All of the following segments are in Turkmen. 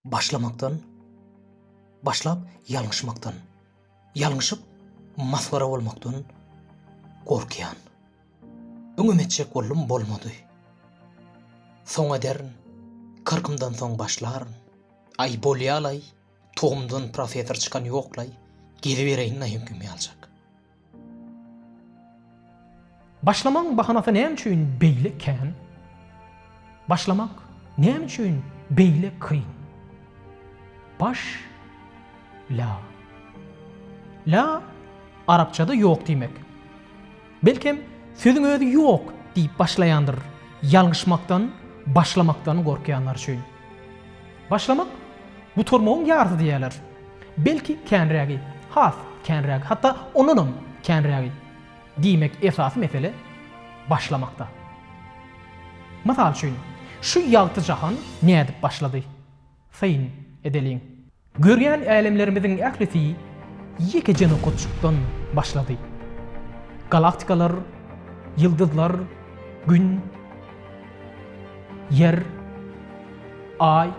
Başlamakdan, başlap ýalňyşmakdan, ýalňyşyp masgara bolmakdan gorkýan. Öňem etjek boldum bolmady. Soň ederin, kyrkymdan soň başlaryn. Aý bolýalaý, togumdan professor çykan ýoklaý, gezibereýin naýenküm ýaljak. Başlamagyň bahanasy näme üçin beýle kän? Başlamak näme üçin beýle kyn? Baş la. La arapçada ýok diýmek. Belkem, sözüň özi ýok diýip başlaýandyr, ýalňyşmakdan, başlamakdan gorkýanlar üçin. Başlamak, gutarmagyň ýarysy diýerler. Belki känrägi, has känrägi, hatda ondanam känrägi. Diýmek, esasy mesele başlamakda. Mysal üçin, şu ýagty jahan nädip başlady? Syn edeliň. Görýän älemlerimiziň ählisi ýekeje nokatjykdan başlady. Galaktikalar, ýyldyzlar, Gün. Ýer, Aý,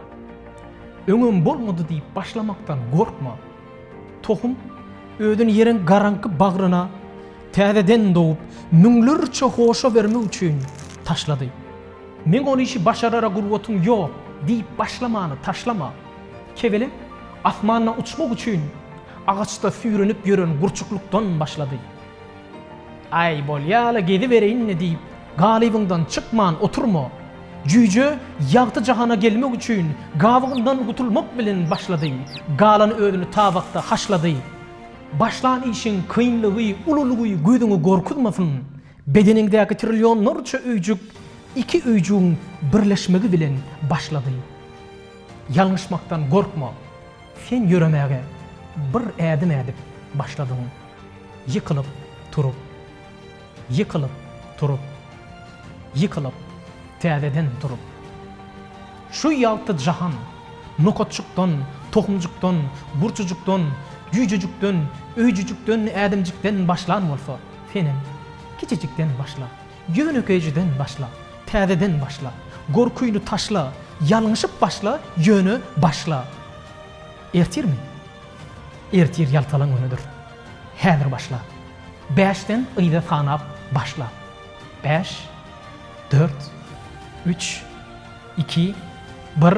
öňem bolmady diýip başlamakdan gorkma. Tohum özüni ýeriň garaňky bagryna täzeden dogup, müňlerçe hoşa bermek üçin taşlady. Men ol işi başarara gurbatyň ýok diýip başlamany taşlama. Kebelek asmanda uçmak üçin agaçda süýrenip ýören gurçuklykdan başlady. Äý, bolýa-la, gezibereýin-le diýip, galybyňdan çykman oturma. Jüýje ýagty jahana gelmek üçin gabygyndan gutulmak bilen başlady, galan özüni tabakda haşlady. Başlan işiň kynlygy, ululygy gözüňe gorkuzmasyn. Bedeniňdäki trillionlarça öýjük iki öýjügiň birleşmegi bilen başlady. Ýalňyşmakdan gorkma. Sen ýöremäge bir ädim ädip başladyň. Ýykylyp turup, ýykylyp turup, ýykylyp, täzeden turup. Şu ýagty jahan, nokatjykdan, tohumjykdan, gurçujykdan, jüýjejikden, öýjüjikden, ädimjikden başlan bolsa, senem, kiçijikden başla, ýönekeýjeden başla, täzeden başla, gorkyny taşla, ýalňyşyp başla, ýöne başla! Ertirmi? Ertir ýaltalan günüdir. Häzir başla. Bäşden yza sanap başla. Bäş, dört, üç, iki, bir.